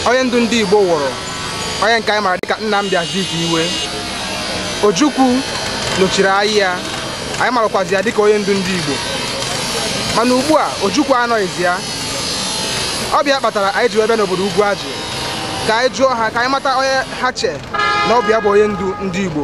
onye ndu ndị Igbo wụrụ onye nke anyị mara dịka Nnamdi Azikiwe Ojukwu nọchiri anya ya anyị marakwazi ya dịka onye ndu ndị Igbo mana ugbu a Ojukwu anọghịzi ya ọ bụ ya kpatara anyị ji wee bịa n'obodo Ugwuaji ka anyị jụọ ha ka anyị mata onye ha che na ọ bụ ya bụ onye ndu ndị Igbo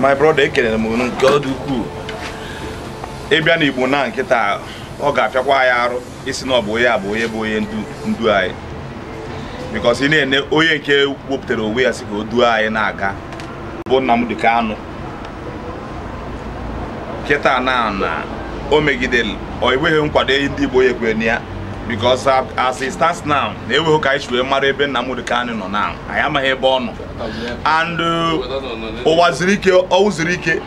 my brother ekelere m unu nke ọ dị ukwuu ị bịa na Igbo na kịta ọ ga-afịakwa ya arụ ịsị na ọ bụ onye a bụ onye bụ onye ndu ndu anyị because ị na-ene onye nke wepụtara onwe ya sị ka o duo anyị na-aga bụ Nnamdi Kanu kịta na na o megidere o nweghị nkwado ndị Igbo ya ekwere na ya because as it stands now na enweghị ka anyị si wee mara ebe Nnamdi Kanu nọ na anyị amaghị ebe ọ nọ and uh, Uwazuruike Uwazuruike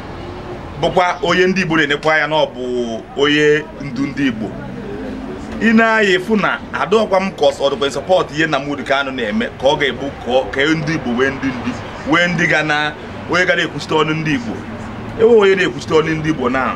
bụkwa onye ndị Igbo na-enekwa ya na ọ bụ onye ndu ndị Igbo i nee ya ị fụ na ọ dụkwa m ka ọ dụkwa in support ihe na Nnamdi Kanu na-eme ka ọ ga-abụ ka ndị Igbo nwee ndị ndị nwee ndị ga na onye ga na-ekwuchite ọnụ ndị Igbo enweghị onye na-ekwuchite ọnụ ndị Igbo na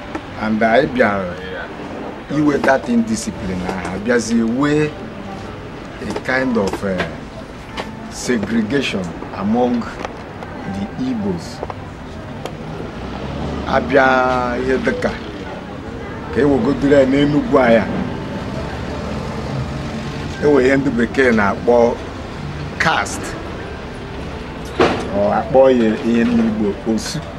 and anyị bịara inwe that indiscipline ahụ bịazie nwee a kind of uh, segregation among the Igbos a bịa ihe dịka ka e wegodiri ya n'Enugwu anyị enwe ihe ndị bekee na-akpọ caste or a kpọ ya ihe ndị Igbo osu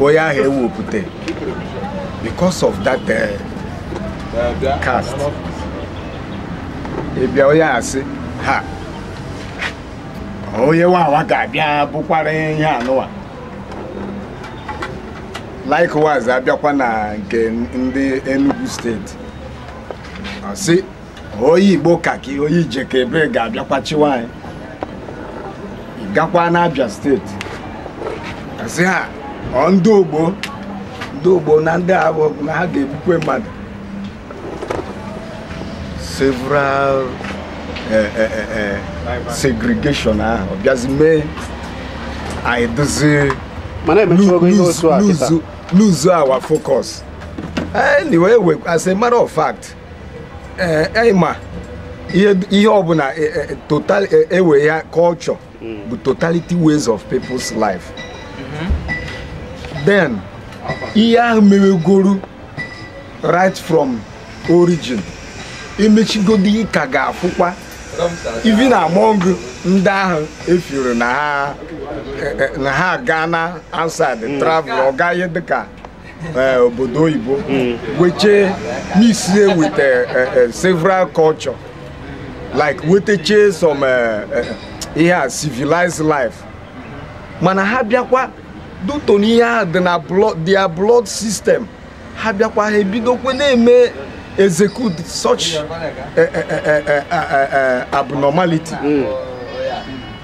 onye ahụ ewepụta because of that eh, caste ị bịa onye a sị ha onye Wawa ga-abịa bụkwara ihe anụwa likewise a bịakwa na nke ndị Enugu steeti ọ sị onye Igbo kaki onye Ijekebe ga-abịakwa chịwa anyị gakwa n'Abia steeti a sị ha ọ ndị ogbo ndị ogbo na ndị ahụ na ha ga-egbukwe mmadụ several eh, eh, eh, eh, segregation ahụ bịazi mee anyị dozie lose our focus anyway we- as a matter of fact ee eh, ịma eh, ihe ọbụla eh, total ewe ya culture hmm. bụ totality ways of people's life mhm. then ihe ahụ mewegoro right from origin emechigodi ị ka ga-afụkwa even among ndị ahụ efuru na ha gaa na outside hmm. travel ọ gaghị dịka eh, obodo oyibo hmm. wechee mixie with eh, eh, several culture like wetechee some ihe a civilized life mana ha bịakwa due to na ihe ahụ dị na their blood system ha bịakwa ha ebidokwe na-eme execute such abnormality. Mm.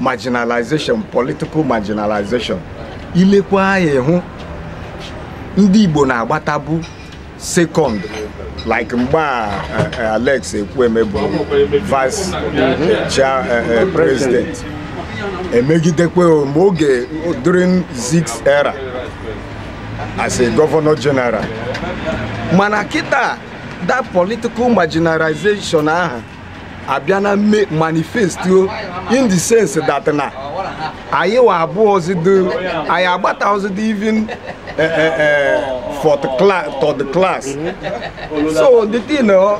marginalization political marginalization i lekwa anya ị hụ ndị Igbo na-agbatabu second like mgbe a eh, eh, Alex Ekwueme bụ vice eh, chair eh, eh, president emegidekwa ma oge during Zik's era as a governor general mana kịta that political marginalization ahụ abịa na-eme manifest in the sense that na anyị wa abụọzido anyị agbataọzido even eh, eh, eh, fourth class third class so the thing ọ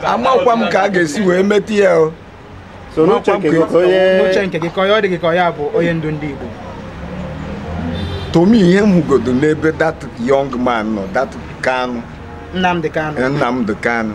amakwa m ka a ga-esi wee meta ya o. so n'uche nke gị ka onye uche nke gị ka onye ọ dị gị ka onye a bụ onye ndu ndị Igbo to me ihe m hụgodo n'ebe that young man nọ that Kanu Nnamdi Kanu Nnamdi Kanu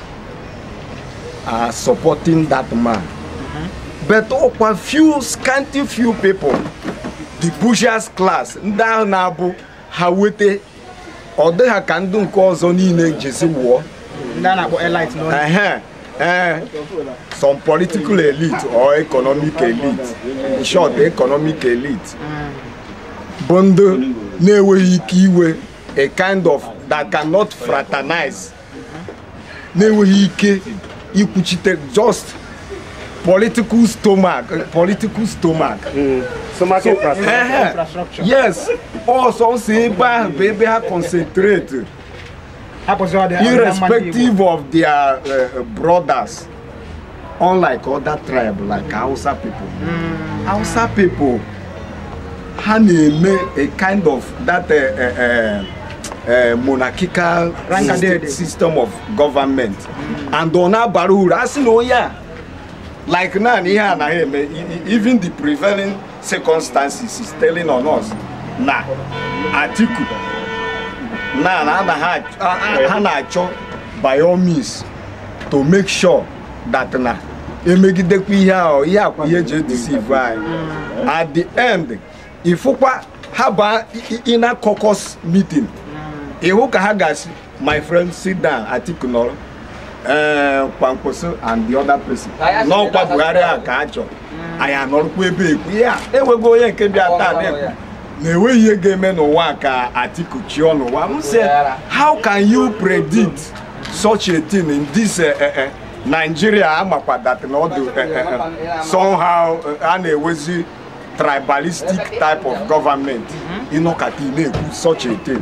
are supporting that man. Mm-hmm. But ọ kwa few scanty few people the bourgeois class ndị ahụ na-abụ ha weta ọ dị ha ka ndị nke ọzọ niile jesi wụọ eh, some political elite or economic elite in short economic elite bụ ndị na-enweghị ike iwe a kind of that cannot fraternize na-enweghị ike ikwuchite just political stomach political stomach Stomach infrastructure. yes ọ sọsọ ebe ahụ bụ ebe ha concentrate irrespective of their uh, brothers unlike other tribe like Hausa people mm. Hausa people ha na-eme a kind of that uh, uh, uh, uh monarchical system, system of government mm. and ọ na-abara uru a sị na onye a like now ihe anaghị eme even the prevailing circumstances is telling on us na Atiku na na ha na-achọ by all means to make sure that na emegidekwa ihe ahụ ihe akwa ihe eji edeceive anyị at the end ifụkwa ha baa in a caucus meeting ịhụ ka ha ga-asị My friend, sit down. Atiku nọrọ. Ee, Kwankwaso and the other person. Na ọkwa Buhari a ka a chọrọ. Anyị anọrọkwa ebe ekwu. Ya, enwego onye nke bịa taa na-ekwu na enweghị ihe ga-eme n'ụwa ka Atiku chịọ n'ụwa. M sị, how can you predict such a thing in this eh, eh, eh, Nigeria amakwa that na ọ dị eh, eh, eh, somehow eh, a na-ewezi tribalistic type of government ị nọkata ị na-ekwu such a thing.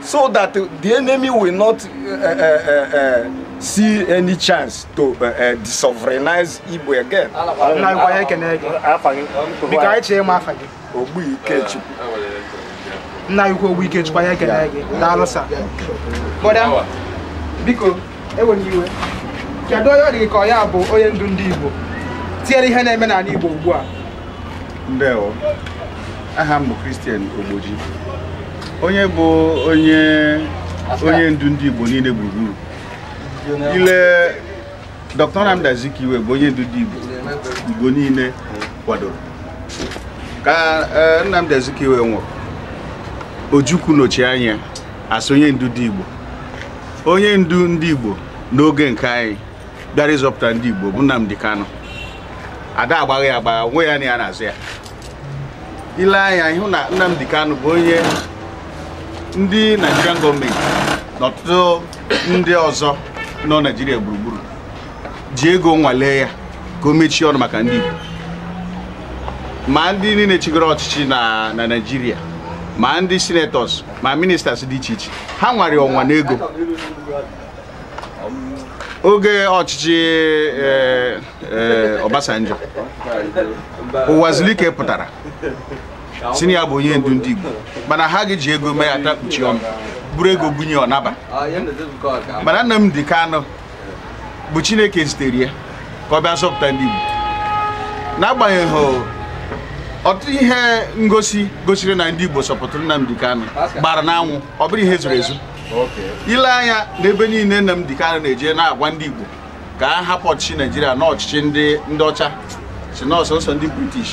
so that the enemy will not uh, uh, uh, see any chance to uh, uh, sovereignize Igbo again. Ogbu Ikechukwu. Nna anyị ukwu Ogbu Ikechukwu anyị ekene gị. Daalụ sir. Bọda, biko, ewena iwe. Kedu onye ọ dị ka ọ ya bụ onye ndu ndị Igbo? Tinyere ihe na-eme n'ala Igbo ugbu a. ndewo aha m bụ Christian Ogboji onye bụ onye ndu ndị Igbo niile gburugburu ile Dr. Nnamdi Azikiwe bụ onye ndu ndị Igbo Igbo niile kwadoro ka eh, Nnamdi Azikiwe nwụrụ Ojukwu nọchie anya as onye ndu ndị Igbo onye ndu ndị Igbo n'oge nke anyị bịara ịzọpụta ndị Igbo bụ Nnamdi Kanu ada agbagha ya agbagha nwe ya na ya na-azọ ya i lee anya ị hụ na Nnamdi Kanu bụ onye ndị Nigerian gọọmenti na ọtụtụ ndị ọzọ nọ Naijiria gburugburu ji ego nwalee ya ka o mechie ọnụ maka ndị Igbo ma ndị niile chịgoro ọchịchị na Naijiria ma ndị senators ma ministers dị iche iche ha nwara ya ọnwa n'ego oge ọchịchị eh, eh, Obasanjo Uwazulike pụtara sị na ya bụ onye ndu ndị Igbo mana ha ga-eji ego mee ya atakpuchie ọnụ buru ego bunye ọ naba mana Nnamdi Kanu bụ Chineke zitere ya ka ọ bịa zọpụta ndị Igbo n'agbanyeghị ọtụtụ ihe ngosi gosiri na ndị Igbo supportụrụ Nnamdi Kanu gbara n'anwụ ọ bụrọ ihe zoro ezo i lee anya n'ebe niile Nnamdi Kanu na-eje na-agwa ndị Igbo ka ha hapụ ọchịchị Naijiria na ọchịchị ndị ọcha sị na ọ sọnsọ ndị British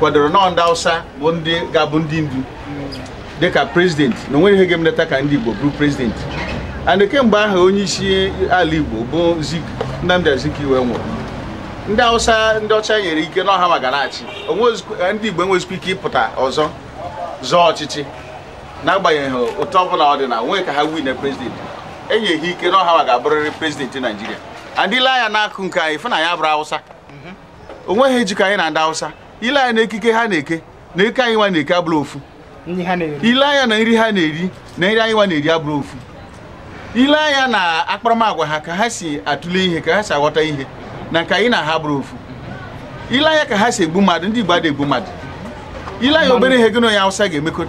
kwadoro na ọ ndị Hausa bụ ndị ga-abụ ndị ndu dịka president na onweghị ihe ga-emeleta ka ndị Igbo bụrụ president and kemgbe ahụ onye isi ala Igbo bụ Zik Nnamdi Azikiwe nwụrụ ndị Hausa ndị ọcha nyere ike na ọ ha nwa ga na-achị ndị Igbo enwezikwa ike ịpụta ọzọ zọọ ọchịchị n'agbanyeghị otu ọbụla ọ dị na onwe ka ha win president enye ha ike na ọ ha nwa ga-abụrịrị president naijiria and i lee anya n'akụ nke anyị ị fụ na anyị abụrọ awụsa onweghị ihe jikọ anyị na ndị awụsa i lee anya na ekike ha na-eke na nke anyị nwa na-eke abụrọ ofu i lee anya na nri ha na-eri na nri anyị nwa na-eri abụrọ ofu i lee anya na akparamagwa ha ka ha si atụle ihe ka ha si aghọta ihe na nke anyị na ha abụrọ ofu i lee anya ka ha si egbu mmadụ ndị Igbo adịghị egbu mmadụ i lee anya obere ihe gị na onye Hausa ga-emekọ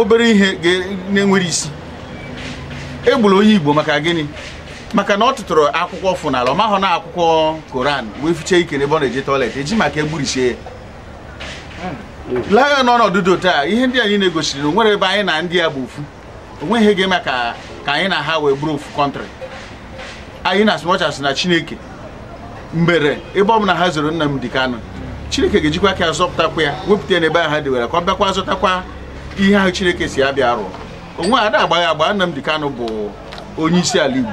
obere ihe na-enwerọ isi e gburu onye Igbo maka gịnị maka na ọ tụtụrụ akwụkwọ ọ fụ n'ala ọ mahụ na ọ akwụkwọ Koran wee fichee ike n'ebe ọ na-eje toilet eji maka egburisie ya hmm. lee ya n'ọnọdụ taa ihe ndị a niile gosiri na o nwerọ ebe anyị na ndị a bụ ofu onweghị ihe ga-eme ka anyị na ha wee bụrụ ofu country anyị na asụmọchasị na chineke mee ebere ebe ọbụla ha zoro Nnamdi Kanu chineke ga-ejikwa aka ya zọpụtakwa ya wepụta ya n'ebe ahụ ha dewere ka ọ bịakwa zọtakwa ihe ahụ chineke sị ya bịa rụọ onweghị ada agbagha agbagha Nnamdi Kanu bụ onye isi ala igbo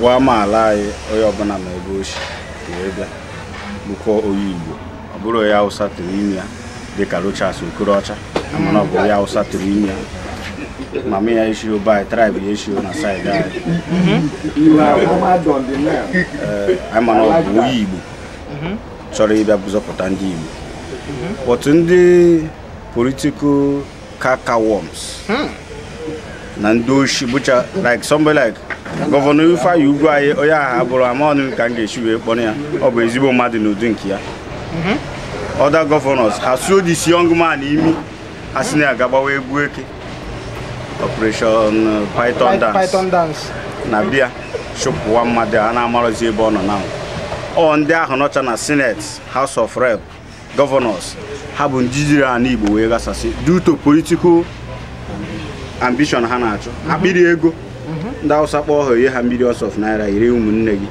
nwa amaala anyị onye ọbụla ma ebe o si wee bịa bụkwa onye Igbo ọ bụrọ onye Hausa tụrụ ime ya dịka Rochas Okorocha mana ọ bụ onye Hausa tụrụ ime ya mama ya eshirọ be anyị tribe ya eshirọ na side anyị mana ọ bụ onye Igbo chọrọ ịbịa zọpụta ndị Igbo but ndị political cankerworms hmm. na ndị oshi bụcha like somebody like governor Ifeanyi Ugwuanyi onye ahụ abụrọ amarọ m ka m ga-esi wee kpọọ ya ọ bụ ezigbo mmadụ n'ụdị nke ya mhm. other governors ha sụọ this young man imi ha sị na a ga-agbawa egwu eke operation uh, python dance na bịa chụpụwa mmadụ a na-amarọzi ebe ọ nọ na ọ ndị ahụ nọcha na senate house of rep governors ha bụ ndị jiri ala Igbo wee ghasasị due to political ambition ha na-achụ akpịrị ego ndị Hausa kpọọ ha nye ha millions of naira i ree ụmụnne gị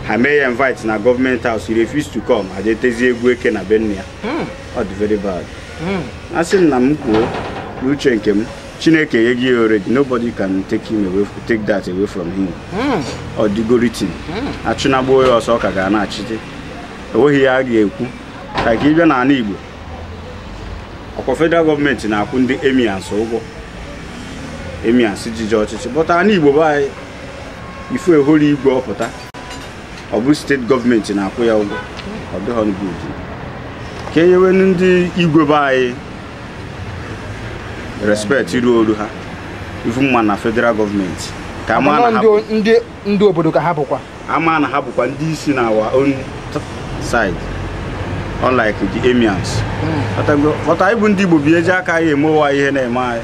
ha mee ya invite na government house he refused to come ha jee tezie egwu eke na be nne ya ọ dị very bad a sị m na m kwuo uche nke m chineke enyego ya already nobody can take him away take that away from him ọ dịgo written achụnagbuo ya ọsọ ọ ka ga na-achịte enweghị ihe a ga-ekwu ka ka ị bịa n'ala Igbo ọkwa federal gọọmenti na-akwụ ndị emirs ụgwọ emirs jiji ọchịchị but ala Igbo be anyị ị fụ e họrọ igwe ọ pụta ọ bụ steeti gọọmenti na-akwụ ya ụgwọ ọ dịghọ good ka e nyewe ndị igwe be anyị respect ruuru ha even ma na federal gọọmenti ka a ma na ha bụ- ndị obodo ka ha bụkwa a ma na ha bụkwa ndị isi na our own side unlike the emirs but anyị bụ ndị igbo bi eji aka anyị emewa ihe na-eme anyị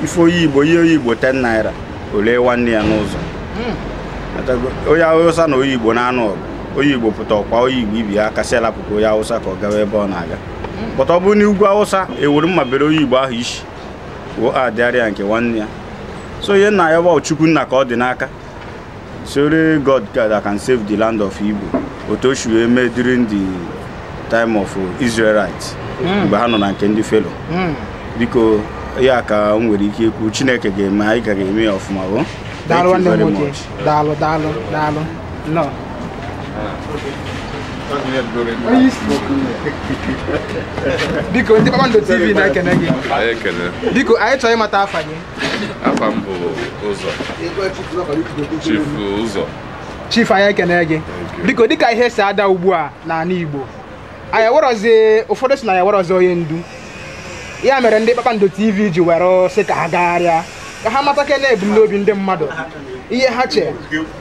ife onye igbo i nye onye igbo 10 naira o lee nwanne ya n'ụzọ onye awụsa na onye igbo na-anụ ọgụ onye igbo pụta ọkwa onye igbo ibe ya ga-asị rapụkwa onye awụsa ka ọ gawa ebe ọ na-aga but ọ bụrụ n'ugwu awụsa e were mma bere onye igbo ahụ isi wụ adịgharị ya nke nwanne ya so ihe m na-ayọ bụ chukwu nna ka ọ dị n'aka it's only god that can save the land of igbo otu o si wee mee during the time of israelite mgbe ha nọ na nke ndị fero biko ya ka m nwere ike ikwu chineke ga-enye anyị aka ga-eme ya ọfụma o daalụ nwanne m nwoke daalụ daalụ daalụ Nnọọ. biko ndị kpakpando tv na-ekene gị Anyị ekele. biko anyị chọrọ ịmata afa gị Afa m bụ Ụzọ. Chief Ụzọ. chief anyị ekene gị biko dịka ihe si ada ugbu a n'ala igbo anyị enwerọzi ụfọdụ sị na anyị enwerọzi onye ndu ya mere ndị kpakpando tv ji were sị ka ha gagharịa ka ha matakene ebumnobi ndị mmadụ ihe ha che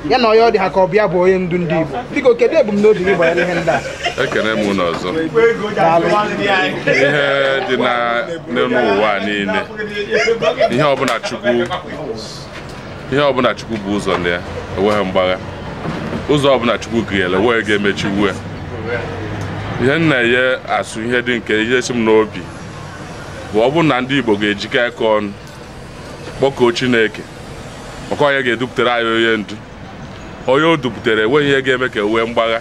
ya na onye ọ dị ha ka ọ bụ ya bụ onye ndu ndị igbo biko kedu ebumnobi gị banyere ihe ndị a ekene m unu ọzọ Daalụ. ihe dị n'elu ụwa niile ihe ọbụla chukwu ihe ọbụla chukwu bu ụzọ na ya enweghị mgbagha ụzọ ọbụla chukwu ghere enweghị onye ga-emechinwu ya ihe m na-asị ihe dị nke ihe si m n'obi bụ ọ bụrụ na ndị igbo ga-ejikọ aka ọnụ kpọkuo chineke maka onye ga-edupụtara anyị onye ndu onye o dupụtara enweghị ihe ga-eme ka e nwee mgbagha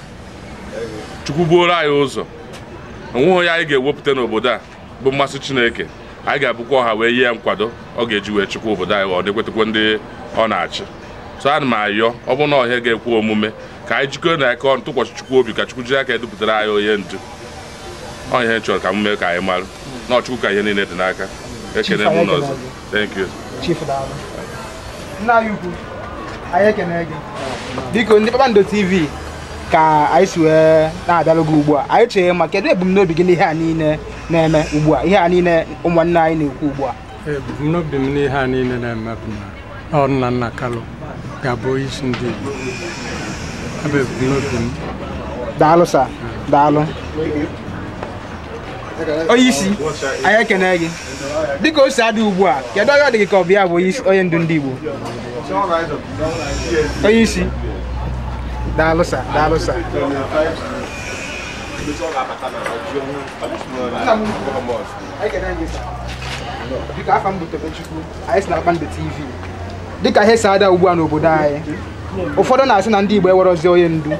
chukwu buoro anyị ụzọ enweghị onye anyị ga-ewepụta n'obodo a bụ mmasị Chineke anyị ga-abụkwa ọha wee nye ya nkwado ọ ga-eji wee chịkwa obodo anyị na-ekwetakwa ndị ọ na-achị so ana m ayọ ọ bụrụ na ọ ihe ga-ekwe omume ka anyị jikọọnụ aka ọnụ tụkwasị Chukwu obi ka Chukwu jiri aka ya dupụtara anyị onye ndu ọ ihe m chọrọ ka m mee ka anyị mara na ọ Chukwu ka ihe niile dị n'aka ekene m unu ọzọ Thank you. Chief Daalụ. Nna anyị ukwu, anyị ekene gị. Biko ndị Kpakpando TV ka anyị si wee na-abịalụ gị ugbu a. Anyị chọ ịma kedu ebumnobi gị n'ihe a niile na-eme ugbu a, ihe a niile ụmụnne anyị na-ekwu ugbu a. ebumnobi m n'ihe a niile na-eme bụ na ọ Nnamdi Kalu ga-abụ onye isi ndị Igbo ọ bụ ebumnobi m Daalụ sa, daalụ. onye isi anyị ekene gị dịka o si adị ugbu a kedu onye ọ dị gị ka ọ bụ ya bụ onye isi- onye ndu ndị Igbo onye isi daalụ sa daalụ sa dịka afa m bụ Tobechukwu anyị si na Kpakpando TV dịka ihe si ada ugbu a n'obodo anyị ụfọdụ na-asị na ndị Igbo enwerọzi onye ndu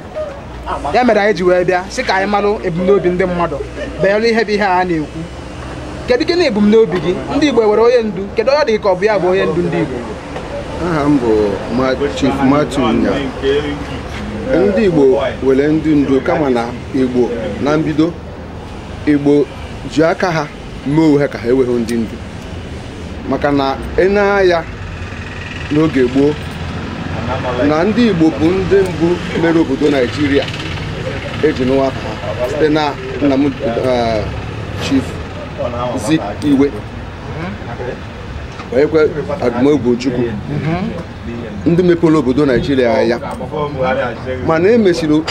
ya mere anyị ji wee bịa sị ka anyị malụ ebumnobi ndị mmadụ banyere ihe bụ ihe a na-ekwu kedu gịnị ebumnobi gị ndị Igbo enwere onye ndu kedu onye ọ dị gị ka ọ bụ ya bụ onye ndu ndị Igbo aha m bụ Chief Matthew Nya ndị Igbo nwere ndị ndu kama na Igbo na mbido Igbo ji aka ha mee onwe ha ka ha enweghị ndị ndu maka na e nee anya n'oge gboo na ndị Igbo bụ ndị mbụ mere obodo Naijiria e ji nụ aha site na nna m eh, Chief Azikiwe nakwa Odumegwu Ojukwu ndị mepere obodo Naijiria anya mana e mesịrị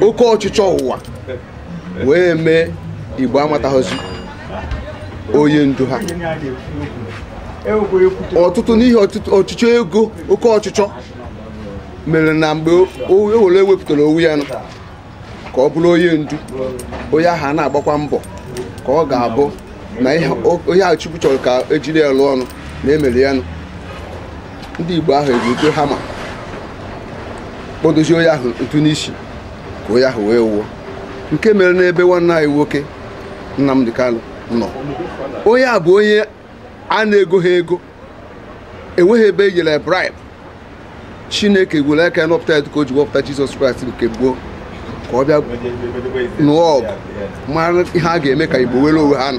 oke ọchịchọ ụwa wee mee igbo amataghịzi onye ndu ha ọtụtụ n'ihi ọchịchọ ego oke ọchịchọ mere na mgbe e nwere onye wepụtara onwe ya ka ọ bụrụ onye ndu onye ahụ a na-agbakwa mbọ ka ọ ga-abụ na ihe Chukwu chọrọ ka e jiri ya lụọ ọlụ na e mere ya nụ ndị Igbo ahụ eji hammer kpọdozie onye ahụ ntu n'isi ka onye ahụ wee nwụọ nke mere n'ebe nwanne anyị nwoke Nnamdi Kanu nọ onye a bụ onye a na-egoghị ego enweghị ebe e nyere bribe chineke were aka ya họpụta ya dịka o ji wepụta jizọs kraịst n'oge gboo ka ọ bịa nụọ ọgụ mara ihe a ga-eme ka igbo nwere onwe ha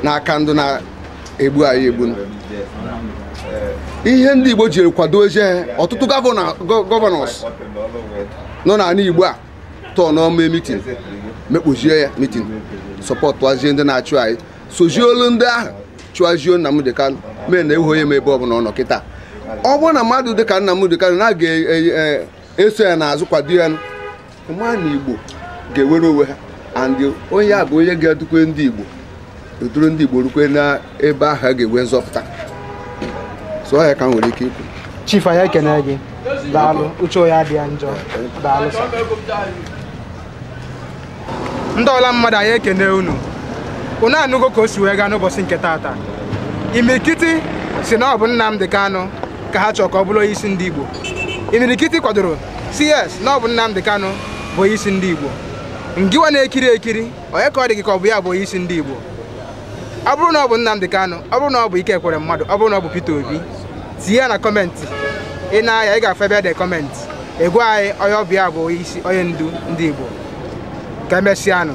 n'aka ndị na-egbu anyị egbu ihe ndị igbo jiri kwado eje ọtụtụ gọvanọs nọ n'ala igbo a tọọ n'ọma mitin mekpozie ya mitin sọpọtụazie ndị na-achụ anyị sozie olu ndị ahụ chụazie Nnamdi Kanu mee na ewu onye m ebe ọbụla ọ nọ kịta ọ bụrụ na mmadụ dịka Nnamdi Kanu na a ga-eso ya n'azụ kwado ya ma na igbo ga-enwere onwe ha and onye a bụ onye ga-edukwa ndị igbo duru ndị Igbo rukwe n'ebe ahụ a ga-enwe nzọpụta so ya ka m nwere ike ikwu chief anyị ekene gị daalụ uche onye adị ya njọ daalụ ndị ọra mmadụ anyị ekene unu unu anụgo ka o si wee gaa n'ụbọchị nke taata imirikiti sị na ọ bụ Nnamdi Kanu ka ha chọrọ ka ọ bụrụ onye isi ndị Igbo imirikiti kwadoro sị yes na ọ bụ Nnamdi Kanu bụ onye isi ndị Igbo ngịwa na-ekiri ekiri onye ka ọ dị gị ka ọ bụ ya bụ onye isi ndị Igbo ọ bụrụ na ọ bụ Nnamdi Kanu ọ bụrụ na ọ bụ Ike Ekweremadu ọ bụrụ na ọ bụ Peter Obi tinye ya na kọmentị ị nee anya ị ga-afụ ebe e de kọmentị ị gwa anyị onye ọ bụ ya bụ onye ndu ndị Igbo ka emesịanụ